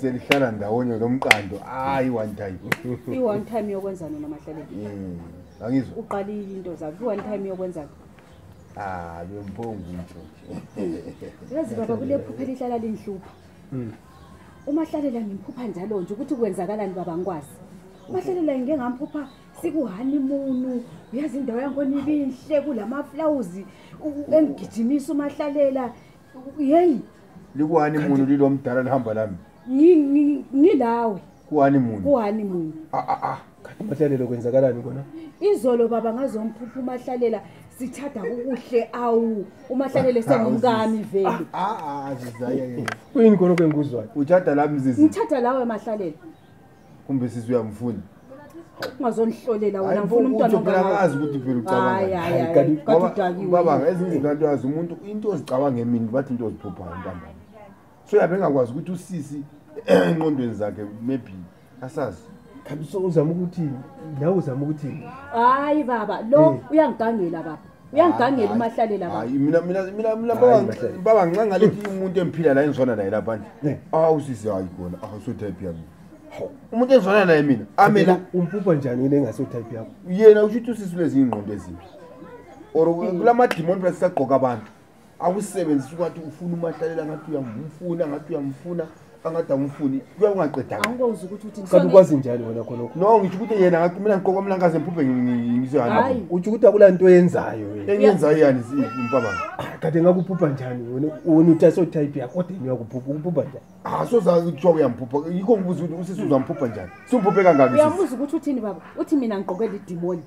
selihlala ndawonye lo mqando hayi one time i-one time yokwenza nina mahlaleki mm, angizwa uqalile into zakho i-one time yokwenza ah bemphongu ntsho yazi baba kule phupha elihlala linhlupha mm. umahlalela ngimphupha njalo nje ukuthi kwenzakalani baba ngikwazi umahlalela ngike ngamphupha sikuhanimunu uyazi indawo yangikhona ibinhle kulamaflawuzi engigijimisa umahlalela yeyi likuhani munhu lilo mdala lihamba lami ngi- ngi- ngilawe kuhani munhu kuhani munhu Ah, ah, ah. Kanti mahlalelo kwenzakalani kona izolo baba ngazomphupha umahlalela sithada kukuhle awu umahlalela esengumkami vele Ah, ah, ah, zizaya yena. kuyini kona okengikuzwayo uthada lami zizi ngithada lawe mahlalela kumbe sisi uyamfuna ungazonihlolela wena ngifuna umntwana ongazi ukuthi phela ucabangababa ezinye izinto anto yazi umuntu into ozicabanga emini bathi into oziphuphayo ntambama so yabe engakwazi ukuthi usisi enqondweni zakhe maybe asazi khabiso uzama ukuthi nawe uzama ukuthi hayi baba lo eh. uyangigangela baba uyangigangela umahlalela baba hayi mina mina mina mina baba Hayi, Mahlele. baba ngincane ngalethi umuntu engiphila la engizwana naye lapha nje Ne. awu sisi hayi kona awu so type yami Hawu, umuntu engizwana naye mina amela umpupha njani yini engaso type yakho yena usho ukuthi usisi lezingqondo ezimbi or kula madimoni lasisagqoka abantu akusebenzisa ukwathi ufuna umahlalela ngathi uyamfuna ngathi uyamfuna angathi awumfuni kuya ungaqedakati ukwazi njani wena khonoko no ngitsho ukuthi yena ngathi mina ngiqoka mna ngaze mphuphe ngizoyani utsho ukuthi akula nto yenzayo enyenzayo yani mpabanga ah, kade ngakuphupha njani wena wena uthi asotype yakho kodwa uyakuphupha ukuphupha njani asoza ah, kuthiwa uyamphupha yikho ngibuza ukuthi usisi uzamphupha njani simphuphe kangaki uyabuza ukuthi uthini baba uthi mina ngiqoke lidimoni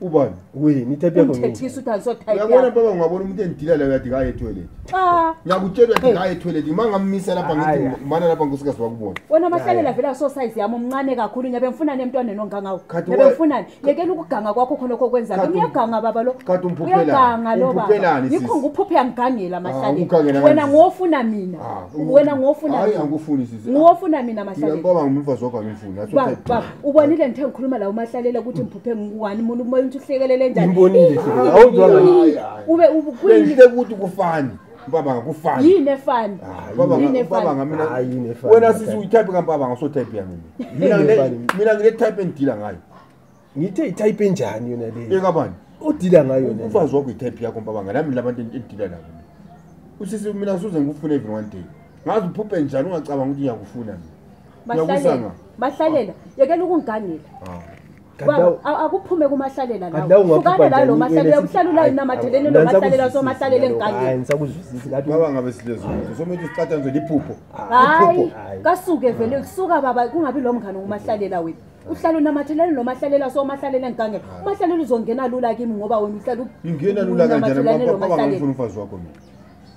ubani wini type yakho ngini? Umthethisa ukuthi angiso type yakho. Uyabona baba ngiyabona umuntu endila la uyathi kaye toilet. Cha. Ngiyakutshela uyathi kaye toilet uma ngamisa lapha ngithi mana lapha nkosikazi wakubona. Wena mahlalela vela so size yami umncane kakhulu ngiyabe ngifuna nemntwaneni ongangawo. Ngiyabe ngifuna yekela ukuganga kwakho khona lokho kwenza. Ngiyaganga baba lo. Kade umphuphela. Uyaganga lo baba. Yikho ngiphuphe angigangela ah, mahlalela. Wena ngofuna mina. Ah, wena ngofuna. Hayi angikufuni sisi. Ngofuna mina mahlalela. Ngiyabona ngumfazi wakho angifuni. Baba. ubonile ngithe ngikhuluma la umahlalela ukuthi ngiphuphe ngikuwani muntu umoya ukuthi uhlekelele njaniubonile ukuthi kufani mpabanga kufani yini efani wena sisi uyitype kampabanga usotype yami mina ngile type endidila ngayo ngithe itype enjani yona leyo ekabani odila ngayo umfazi wakho itype yakho mpabanga nami labantu endidila nabo usisi mina suze ngikufune even one day ngazi uphuphe njani ungacabanga ukuthi ngiyakufuna mina mahlalela mahlalela yekela ukungigangela ah. akuphume kumahlalela lawoukane layo lo mahlalela uhlala ulayo namatheleni lo mahlalela somahlalela engigangelingabe silezuzo somele usicatha nje liphupho hayi kasuke vele kusuka baba kungabi lo mngane ngumahlalela wethu uhlala unamatheleni lo mahlalela so mahlalela engigangela umahlalela uzongena lula kimi ngoba wena uhlala ingena lula kanjani ngoba baba ngifuna umfazi wakho mina